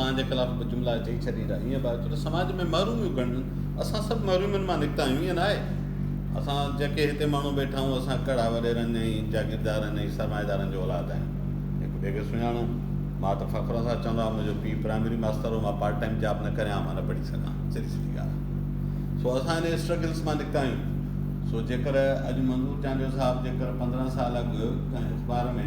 پنهنجي خلاف به جملا چئي ڇڏيندا، ائين به آهي ڇو ته سماج ۾ محروميون گهڻيون، اسان سڀ محرومين مان نڪتا آهيون، ائين ناهي؟ اسان جيڪي هتي ماڻهو ويٺا آهيون، اسان ڪهڙا وڏيرن ۽ جاگيردارن ۽ سرمائيدارن جو اولاد آهيون؟ هڪ ٻئي کي سڃاڻون. مان ته فخر سان چوندو آهيان، منهنجو پيء پرائمري ماستر هو، مان پارٽ ٽائيم جاب نه ڪري عام نه پڙهي سگهان، سڌي سڌي ڳالهه آهي. سو اسان انهيء اسٽرگلز مان نڪتا آهيون. سو جيڪر اڄ منظور چانڊيو صاحب جيڪر پندرهن سال اڳ ڪنهن اخبار ۾.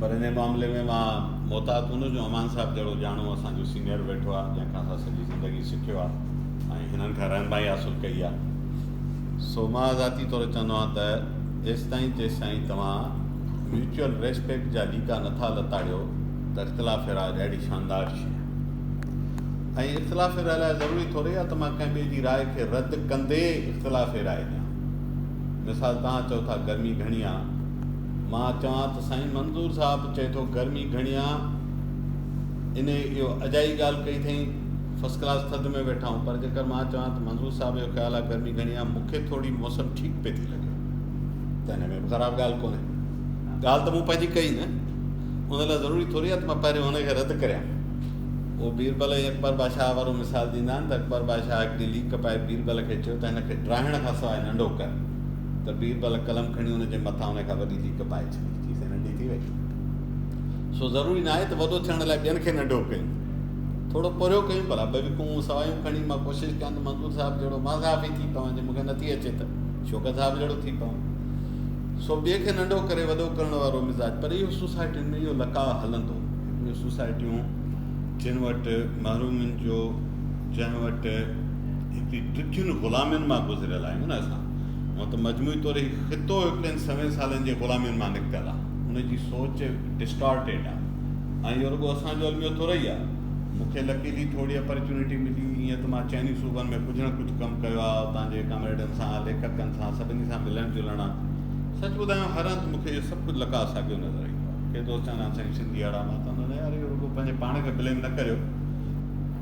پر انهي معاملي ۾ مان محتاط هوندس جو امان صاحب جهڙو ڄاڻو اسان جو سينئر ويٺو آهي جنهن کان اسان سڄي زندگي سکيو آهي ۽ هنن کان رهنمائي حاصل ڪئي آهي سو مان ذاتي طور چوندو آهيان ته ايستائين جيستائين توهان ميوچل ريسپيڪٽ جا ليڪا نٿا لتاڙيو ته اختلاف راء اهڙي شاندار شي آهي ۽ اختلاف راء لاء ضروري ٿوري آهي ته مان ڪنهن ٻئي جي راء کي رد ڪندي اختلاف راء ڏيان مثال توهان چئو ٿا گرمي گهڻي آهي مان چوان ته سائين منظور صاحب چئي ٿو گرمي گهڻي آ انهي اهو اجائي ڳالهه ڪئي اٿئين فرسٽ ڪلاس ٿڌ ۾ ويٺا آهون پر جيڪر مان چوان ته منظور صاحب جو خيال آ گرمي گهڻي آ مون کي ٿوري موسم ٺيڪ پئي ٿي لڳي ته انهي ۾ به خراب ڳالهه ڪونهي ڳالهه ته مون پنهنجي ڪئي نه ان لاء ضروري ٿوري آ ته مان پهريون ان کي رد ڪريان اهو بيربل ۽ اڪبر بادشاهه وارو مثال ڏيندا آهن ته اڪبر بادشاهه هڪ ڏينهن ليڪ پائي بيربل کي چيو ته هن کي ڊاهڻ کان سواء ننڍو ڪر ته بيربل قلم کڻي ان جي مٿان ان کان وڏي ليڪ پائي ڇڏي، چيسين ننڍي ٿي وئي. سو ضروري ناهي ته وڏو ٿيڻ لاء ٻين کي ننڍو ڪيون. ٿورو پورهيو ڪيون ڀلا ٻه وڪون سوايون کڻي مان ڪوشش ڪيان ته منظور صاحب جهڙو مان صحافي ٿي پوان، جي مون کي نٿي اچي ته شوڪت صاحب جهڙو ٿي پوان. سو ٻئي کي ننڍو ڪري وڏو ڪرڻ وارو مزاج پر اهو سوسائٽين ۾ اهو لقاء هلندو. اهي سوسائٽيون جن وٽ محرومين جو جنهن وٽ هيتري ڊگهين غلامين مان گذريل آهيون نه اسان، هونء ته مجموعي طور هي خطو هڪڙين سوين سالن جي غلامين مان نڪتل آ. ان جي سوچ ڊسٽارٽيڊ آ ۽ اهو رڳو اسان جو الميو ٿورئي آ. مون کي لڪيلي ٿورڙي اپرچونيٽي ملي، ايئن ته مان چئني صوبن ۾ ڪجهه نه ڪجهه ڪم ڪيو آ، اتان جي ڪامريڊن سان، ليکڪن سان، سڀني سان ملڻ جلڻ آ. سچ ٻڌايان هر هنڌ مون کي اهو سڀ ڪجهه لڪا ساڳيو نظر ايندو آ. ڪي دوست چوندا آهن سائين سنڌي اهڙا ماٿا نه هڻيو. يار اهو رڳو پنهنجي پاڻ کي بليم نه ڪريو.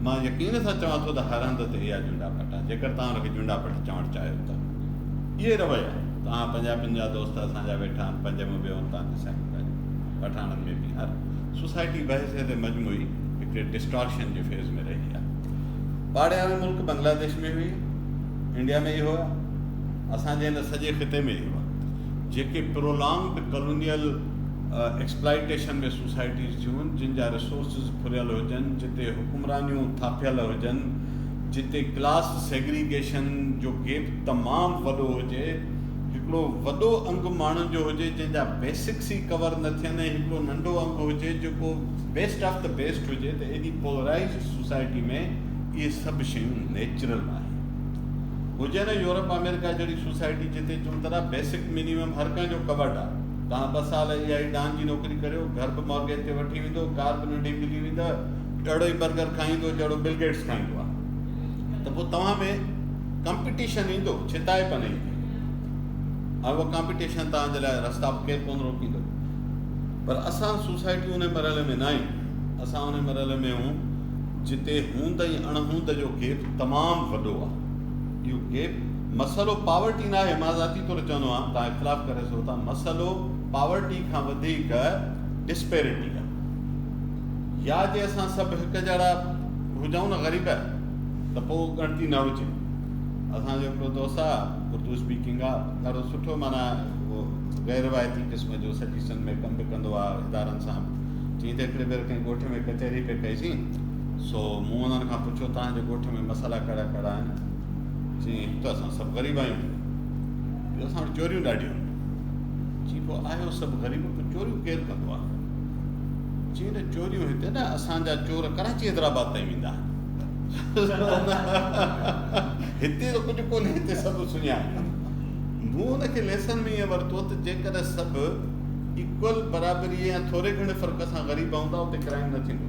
مان يقين سان چوان ٿو ته هاراندا تي اها جونڊا پٽ آهي جيڪر توهان ان کي جونڊا پٽ چوڻ چاهيو ته اهي رويا توهان پنجاب پن جا دوست اسان جا ويٺا آهن پنج مون ويهون توهان کي سائين ٻڌايو پٺاڻن ۾ به هر سوسائٽي بحثيت مجموعي هڪڙي ڊسٽارشن جي فيز ۾ رهي آهي پاڙياڻو ملڪ بنگلاديش ۾ هئي انڊيا ۾ ئي هئا اسان جي هن سڄي خطي ۾ ئي هئا جيڪي پرولانگڊ ڪالونيل ايڪسپلائيٽيشن ۾ سوسائٽيز ٿيون، جن جا ريسورسز ڦريل هجن، جتي حڪمرانيون ٿاڦيل هجن، جتي ڪلاس سيگريگيشن جو گيپ تمام وڏو هجي، هڪڙو وڏو انگ ماڻهن جو هجي جنهن جا بيسڪس ئي ڪور نه ٿين ۽ هڪڙو ننڍو انگ هجي جيڪو بيسٽ آف دي بيسٽ هجي ته ايڏي پولرائيزڊ سوسائٽي ۾ اهي سڀ شيون نيچرل آهن هجن ۽ يورپ آمريڪا جهڙي سوسائٽي جتي چون ترا بيسڪ مينيمم هر ڪنهن جو ڪورڊ آهي. توهان ٻه سال اها ئي ڊان جي نوڪري ڪريو، گهر به مارگيج تي وٺي ويندو، ڪار به ننڍي ملي ويندؤ، اهڙو ئي برگر کائيندو جهڙو بل گيٽس کائيندو آهي ته پوء توهان ۾ ڪمپيٽيشن ايندو، ڇتائپ نه ايندي ۽ اها ڪمپيٽيشن توهان جي لاء رستا به ڪير ڪونه روڪيندو. پر اسان سوسائٽي ان مرحلي ۾ نه آهيون، اسان ان مرحلي ۾ آهيون جتي هوند ۽ اڻهوند جو گيپ تمام وڏو آهي. اهو گيپ مسئلو پاورٽي ناهي مان ذاتي طور چوندو آهيان توهان اختلاف ڪري سگهو ٿا مسئلو پاورٽي کان وڌيڪ ڊسپيرٽي آهي يا جي اسان سڀ هڪ جهڙا هجون نه غريب ته پوء ڳڻتي نه هجي اسان جو هڪڙو دوست آهي اردو اسپيڪنگ آهي ڏاڍو سٺو مانا غير روايتي قسم جو سجيسن ۾ ڪم به ڪندو آهي ادارن سان چيئي ته هڪڙي ڀيري ڪنهن ڳوٺ ۾ ڪچهري پئي ڪئيسين سو مون انهن کان پڇيو، توهان جي ڳوٺ ۾ مسئلا ڪهڙا ڪهڙا آهن؟ چيائين، هڪ ته اسان سڀ غريب آهيون، ٻيو اسان وٽ چوريون ڏاڍيون آهن. چيائين، پوء آهيو سڀ غريب، پوء چوريون ڪير ڪندو آهي؟ چيائين، نه چوريون هتي نه، اسان جا چور ڪراچي حيدرآباد تائين ويندا آهن. هتي ته ڪجهه ڪونهي، هتي سڀ سڃاڻن. مون ان کي ليسن ۾ ائين ورتو ته جيڪڏهن سڀ ايڪول، برابريء يا ٿوري گهڻي فرق سان غريب هوندا، اتي ڪرائيم نه ٿيندو.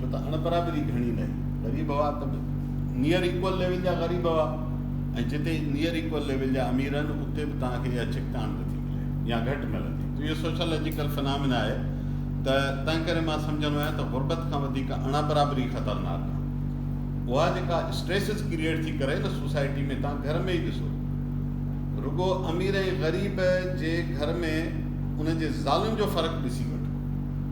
ڇو ته اڻبرابري گهڻي نه هئي، غريب هئا ته به نيئر ايڪول ليول جا غريب هئا ۽ جتي نيئر ايڪول ليول جا امير آهن اتي به توهان کي اها ڇڪتاڻ نه ٿي ملي يا گهٽ ملندي. اهو سوشيالاجيڪل فنامنا آهي ته تنهنڪري مان سمجهندو آهيان ته غربت کان وڌيڪ اڻبرابري خطرناڪ آهي. اها جيڪا اسٽريسز ڪريئيٽ ٿي ڪري نه سوسائٽي ۾ توهان گهر ۾ ئي ڏسو رڳو امير ۽ غريب جي گهر ۾ انهن جي زالن جو فرق ڏسي وٺو.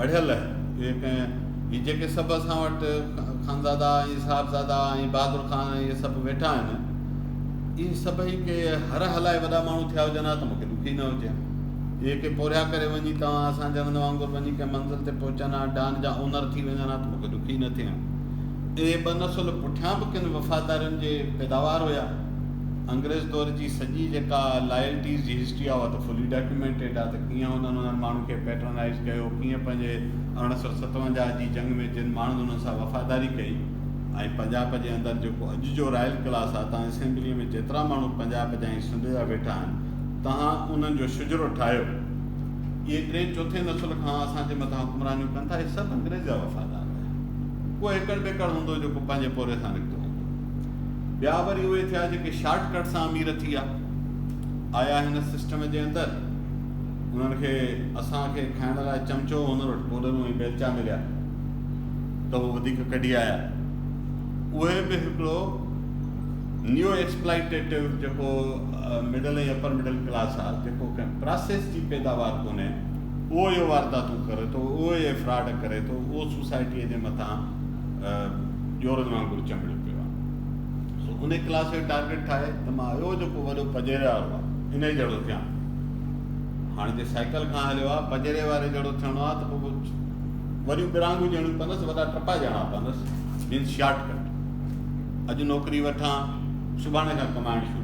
مڙهيل هي جيڪي سڀ اسان وٽ خانزادا ۽ صاحبزادا ۽ بهادر خان ۽ اهي سڀ ويٺا آهن اهي سڀئي ڪي هر هلائي وڏا ماڻهو ٿيا هجن ها ته مون کي ڏک ئي نه هجي ها اهي ڪي پورهيا ڪري وڃي توهان اسان جهڙن وانگر وڃي ڪنهن منزل تي پهچن ها ڊان جا اونر ٿي وڃن ها ته مون کي ڏک ئي نه ٿئي ها اهي ٻه نسل پٺيان به ڪن وفادارين جي پيداوار هيا انگريز دور جي سڄي جيڪا لائلٽيز جي هسٽري آهي اها ته فلي ڊاڪيومينٽيڊ آهي ڪيئن انهن انهن ماڻهن کي پيٽرنائيز ڪيو، ڪيئن پنهنجي اڻ سؤ ستونجاهه جي جنگ ۾ جن ماڻهن انهن سان وفاداري ڪئي ۽ پنجاب جي اندر جيڪو اڄ جو رائل ڪلاس آ تان اسيمبليء ۾ جيترا ماڻهو پنجاب جا ۽ سنڌ جا ويٺا آهن تهان انهن جو شجرو ٺاهيو اهي ٽين چوٿين نسل کان اسان جي مٿان حڪمرانيون ڪن ٿا اهي سڀ انگريز جا وفادار هيا ڪو هيڪڙ ٻيڪڙ هوندو جيڪو پنهنجي پوري سان نڪتو هوندو ٻيا وري اهي ٿيا جيڪي شارٽ ڪٽ سان امير ٿي آ آيا هن سسٽم جي اندر. انهن کي اسان کي کائڻ لاء چمچو هن وٽ ڪوڏرون ۽ بيلچا مليا ته هو وڌيڪ ڪڍي آيا. اهي به هڪڙو نيو ايڪسپلائيٽيٽو جيڪو مڊل ۽ اپر مڊل ڪلاس آ جيڪو ڪنهن پراسيس جي پيداوار ڪونهي اهو اهي وارداتون ڪري ٿو اهو اهي فراڊ ڪري ٿو اهو سوسائٽيء جي مٿان ڄورن وانگر چنبڙيو پيو آ. سو انهي ڪلاس کي ٽارگيٽ ٺاهي ته مان اهو جيڪو وڏو پڄيري وارو آ انهي جهڙو ٿيان. هاڻي جي سائيڪل کان هليو آ پڄيري واري جهڙو ٿيڻو آ ته پوء وڏيون ٻرانگهون ڏيڻيون پوندس وڏا ٽپا ڏيڻا پوندس مينس شارٽ ڪٽ اڄ نوڪري وٺان سڀاڻي کان ڪمائڻ شروع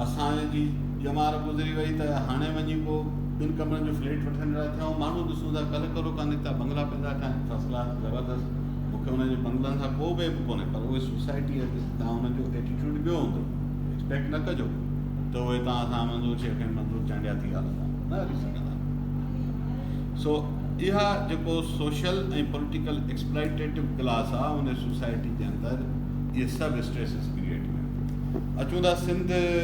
اسان جي ڄمار گذري وئي ته هاڻي وڃي پوء ٻن ڪمرن جو فليٽ وٺڻ جا ٿيا ماڻهو ڏسون ٿا ڪلهه ڪرو ڪانه نڪتا بنگلا پندا ٺاهن فرسٽ ڪلاس زبردست مون کي انهن جي بنگلن سان ڪو به عيب ڪونهي پر اهي سوسائٽي اڄ تان انهن جو ايٽيٽيوڊ ٻيو هوندو ايڪسپيڪٽ نه ڪجو ته اهي تان سان منظور شيخ ۽ منظور چانڊيا ٿي هلندا نه هلي سگهندا سو اها جيڪو سوشل ۽ پوليٽيڪل ايڪسپلائيٽيٽو ڪلاس آهي ان سوسائٽي جي اندر اهي سڀ اسٽريسز ڪريئيٽ ڪن اچون ٿا سنڌ